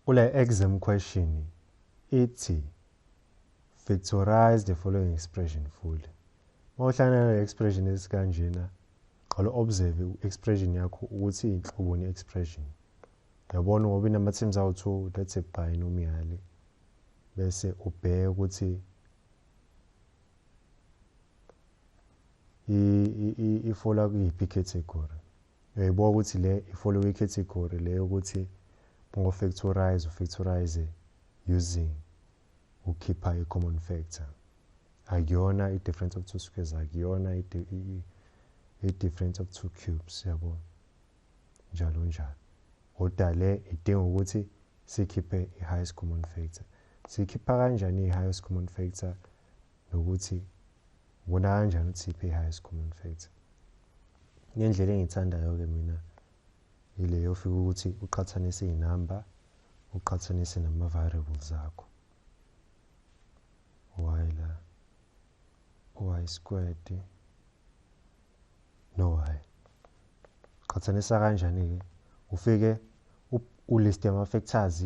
Kule exam question ithi factorize the following expression fully. Uma uhlangana nale expression esikanjena qala observe expression yakho ukuthi inhloboni expression. Uyabona ngoba inama teams awu 2 that's a binomial bese ubheke ukuthi ifola kuyiphi category uyayibuka ukuthi le ifollow icategory le yokuthi ungofactorize ufactorize using ukhipha i-common factor akuyona i-difference of two squares akuyona i-difference of two cubes yabo njalo njalo kodwa le idinga ukuthi sikhiphe i-highest common factor sikhipha kanjani i-highest common factor nokuthi Ubona kanjani ukuthi iphi i-highest common factor? Ngendlela engiyithandayo-ke mina yile yofika ukuthi uqhathanise iy'namba uqhathanise nama-variables akho y la y squared no y qhathanisa kanjani-ke ufike uliste ama-factors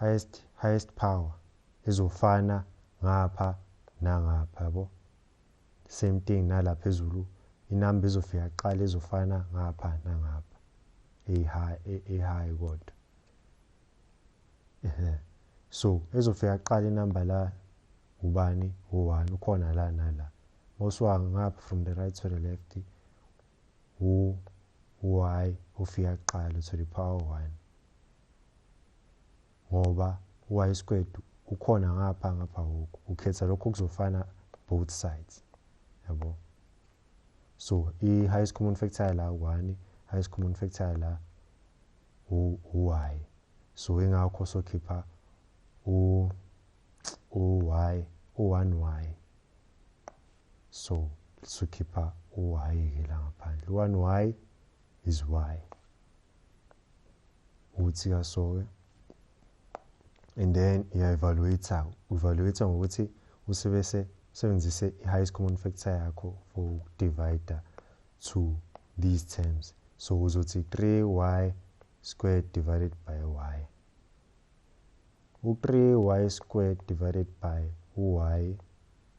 highest highest power ezofana ngapha nangapha yabo same thing nala phezulu inamba ezofika kuqala ezofana ngapha nangapha eyi-high kodwa so ezofika kuqala inamba la ubani u-one ukhona la nala mawusuka ngapha from the right to the left u y ufika kuqala to the power 1 ngoba y squared ukhona ngapha ngapha hoku ukhetha lokho kuzofana both sides yabo so i highest common factor la 1 highest common factor la u y so ingakho sokhipha u u y u 1 y so sukhipha uwayeke la ngaphandle one y is y ukuthi kasoke and then iya-evaluate-a u-evaluate-a ngokuthi usebese usebenzise i-highest common factor yakho for ukudivida to these terms so uzothi 3y squared divided by y u-3y squared divided by y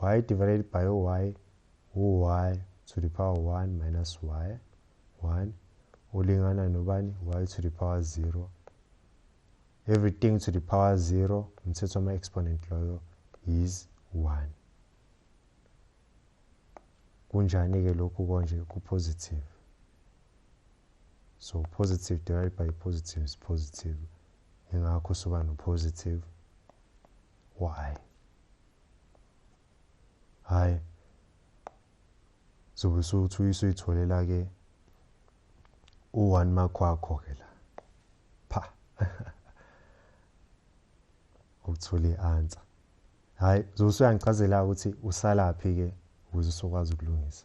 y divided by y u-y to the power 1 minus y 1 ulingana nobani y to the power 0 everything to the power 0 umthetho wama-exponent loyo is 1 kunjani-ke lokhu konje ku-positive so positive divided by positive is positive ingakho soba no-positive why hayi zobe sokuthi uyisuyitholela ke u-one mark wakho ke la pha ukuthola i-answer hhayi zobe usuyangichazela ukuthi usalaphi-ke ukuze usokwazi ukulungisa